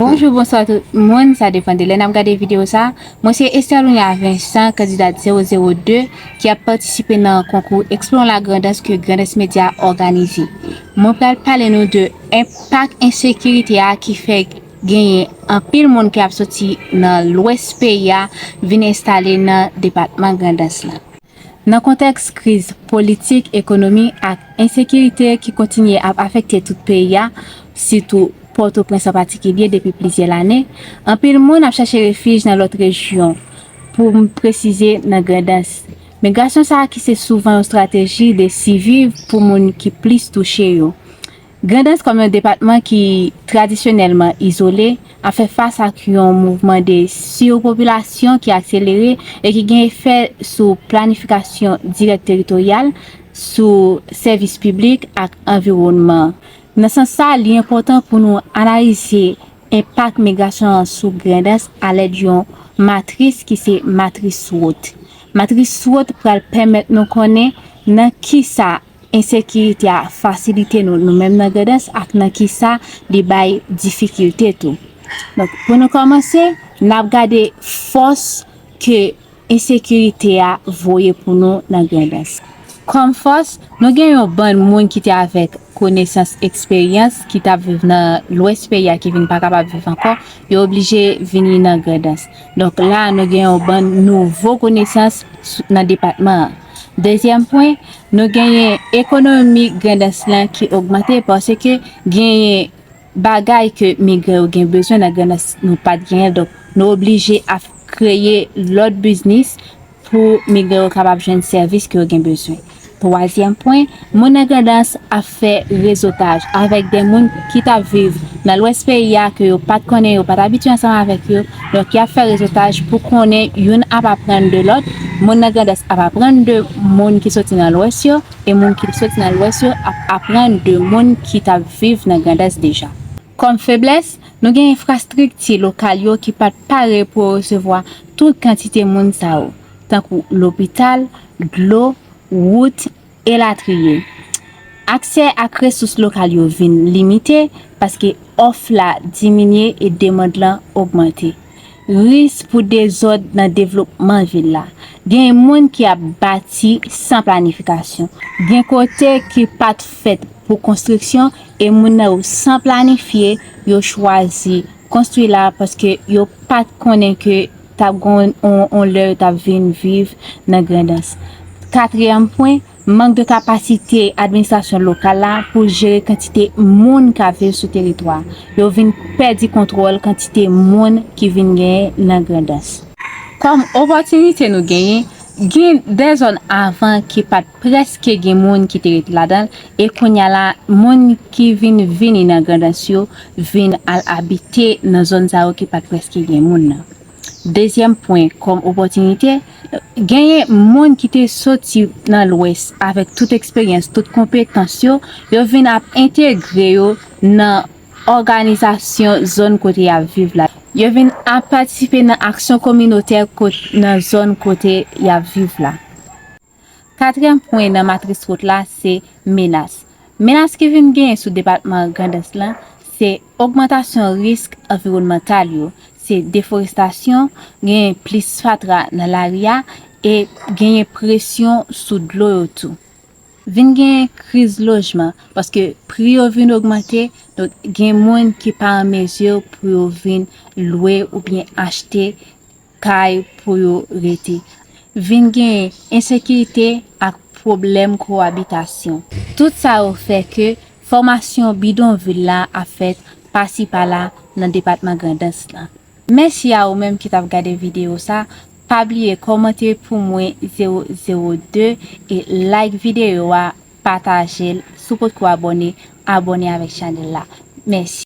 Bonjou bonswa tout moun sa depan de lè nap gade video sa mwen se Esterlunia Vincent kandidad 002 ki ap patisipe nan konkou explorons la grandans ke Grandes Media òganize mwen pral pale nou de enpak ensekirite a ki fè genyen anpil moun ki ap soti nan lwès peyi a vin enstale nan depatman grandans la. Nan kontèks kriz politik, ekonomi ak ensekirite ki kontinye ap afekte tout peyi a, sitou Pòtoprens an patikilye depi plizyè lane, anpil moun ap chache refij nan lòt rejyon, pou m presize nan Grandans. Migrasyon sa a ki se souvan yon strateji de siviv pou moun ki plis touche yo. Grandans kòm yon depatman ki tradisyonèlman izole ap fè fas ak yon mouvman de surpopulasyon ki akselere e ki gen efè sou planifikasyon dirèk teritoryal, sou sèvis piblik ak anviwònman. Nan sans sa, li enpòtan pou nou analize enpak migrasyon an sou Grandans alèd yon matris ki se matris SWOT. Matris SWOT pral pèmèt nou konnen nan kisa. Ensekirite a fasilite nou nou menm nan Grandans ak nan ki sa li bay difikilte tou. Donk, pou nou kòmanse, n ap gade fòs ke ensekirite a voye pou nou nan Grandans. Kòm fòs, nou gen yon bann moun ki te avèk konesans, eksperyans, ki t ap viv nan lwès peyi a ki vin pa kapab viv ankò, yo oblije vini nan Grandans. Donk, la a nou gen yon bann nouvo konesans nan depatman an. Dezyèm pwen, nou genyen ekonomi Grandans lan ki ogmante paske genyen bagay ke migran yo gen bezwen nan Grandans nou pat genyen l. Donk, nou oblije ap kreye lòt biznis pou migran yo kapab jwenn sèvis ke yo gen bezwen. Twazyèm pwen, moun nan Grandans ap fè rezotaj avèk de moun ki tap viv nan lwès peyi a ke yo pat konnen yo pat abitye ansanm avèk yo donk yap fè rezotaj pou konnen youn ap aprann de lòt moun nan grandans ap aprann de moun ki soti nan lwès yo e moun ki soti nan lwès yo ap aprann de moun ki tap viv nan grandans deja. Kòm feblès, nou gen enfrastrikti lokal yo ki pat pare pou yo resevwa tout kantite moun sa yo tankou lopital, dlo, wout, elatriye. Aksè ak resous lokal yo vin limite paske òf la diminye e demand lan ogmante. Ris pou dezòd nan devlopman vil la. Gen moun ki ap bati san planifikasyon. Gen kote ki pa t fèt pou konstriksyon e moun nan yo san planifye yo chwazi konstwi la paske yo pa t konnen ke t ap gen yon lè yo t ap vin viv nan Grandans. Katriyèm pwen, mank de kapasite administrasyon lokal la pou jere kantite moun k ap viv sou teritwa a. Yo vin pèdi kontwòl kantite moun ki vin genyen nan Grandans. Kòm opòtinite nou genyen, Gen de zòn avan ki pa t prèske gen moun ki te ret ladan l, e kounye a la, moun ki vin vini nan Grandans yo vin al abite nan zòn sa yo ki pa t prèske gen moun nan. Dezyèm pwen kòm opòtinite, genyen moun ki te soti nan Lwès avèk tout eksperyans, tout konpetans yo, yo vin ap entegre yo nan òganizasyon zòn kote y ap viv la. Yo vin ap patisipe nan aksyon kominotè nan zòn kote y ap viv la. Katriyèm pwen nan matris wot la se menas. Menas ki vin genyen sou depatman Grandans lan se ogmantasyon risk anviwònmantal yo, se deforestasyon, genyen plis fatra nan lari a e genyen presyon sou dlo yo tou. Vin gen kriz lojman paske pri yo vin ogmante donk gen moun ki pa an mezi pou yo vin lwe oubyen achte kay pou yo rete. Vin gen ensekirite ak pwoblèm kowabitasyon. Tout sa yo fè ke fòmasyon bidonvil la ap fèt pasi pala nan depatman Grandans lan. Mèsi a ou menm ki tap gade video sa, pa bliye kòmante pou mwen 0 0 2 e like video a, patajel, si w potko abone, abone avèk chanèl la. Mèsi.